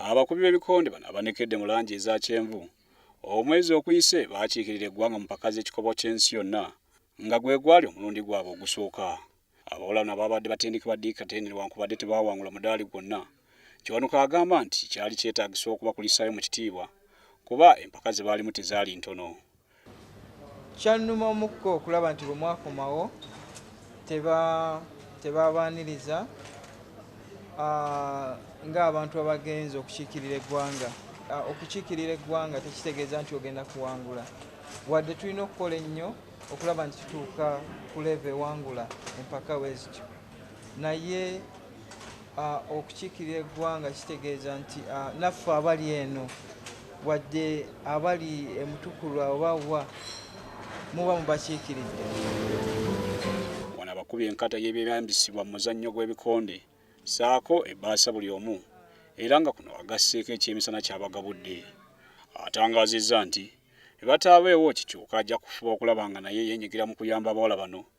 Abakubi b'ebikonde bano abanekedde mu langi eza kyenvu omwezi okuyise baakiikirira eggwanga mu mpaka z'ekikopo ky'ensi yonna nga gwe gwali omulundi gwabwe ogusooka. Abawolano abaabadde batendekebwa Dick Katende newankubadde tebaawangula mudaali gwonna, Kiwanuka agamba nti kyali kyetaagisa okubakulisaayo mu kitiibwa kuba empaka ze baalimu tezaali ntono. Kyannuma omukka okulaba nti bwe mwakomawo tebaabaaniriza ng'abantu abagenze okukiikirira eggwanga. Okukiikirira eggwanga tekitegeeza nti ogenda kuwangula, wadde tulina okukola ennyo okulaba nti tutuuka ku leeva ewangula empaka bwe zityo naye okukiikirira eggwanga kitegeeza nti naffe abali eno wadde abali emutukulwa oba wa muba mubakiikiridde wano abakubi enkata y'ebyeyambisibwa mu muzannyo gw'ebikonde saako ebbaasa buli omu era nga kuno agasseeko ekyemisana kyabagabudde atangaazizza nti ebataabeewo kikyuka ajja kufuba okulaba nga naye yenyigira mu kuyamba abawala bano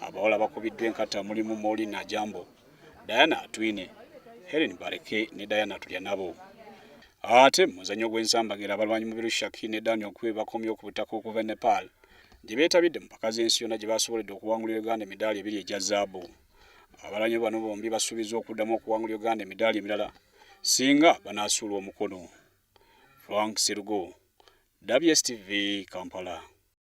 Abawala bakubiddwa enkata mulimu Molly Najambo, Diana Atwine, Helen Bareke ne Diana Tulyanabo. Ate mu muzannyo gw'ensambagira abalwanyi Mubiru Shaki ne Daniel Kwe bakomye ku butaka okuva e Nepal gye beetabidde mu mpaka z'ensi yonna gye baasoboledde okuwangulira Uganda emidaali ebiri egya zaabu. Abalwanyi bano bombi basuubizza okuddamu okuwangulira Uganda emidaali emirala singa banaasuulwa omukono. Frank Serugo, WSTV Kampala.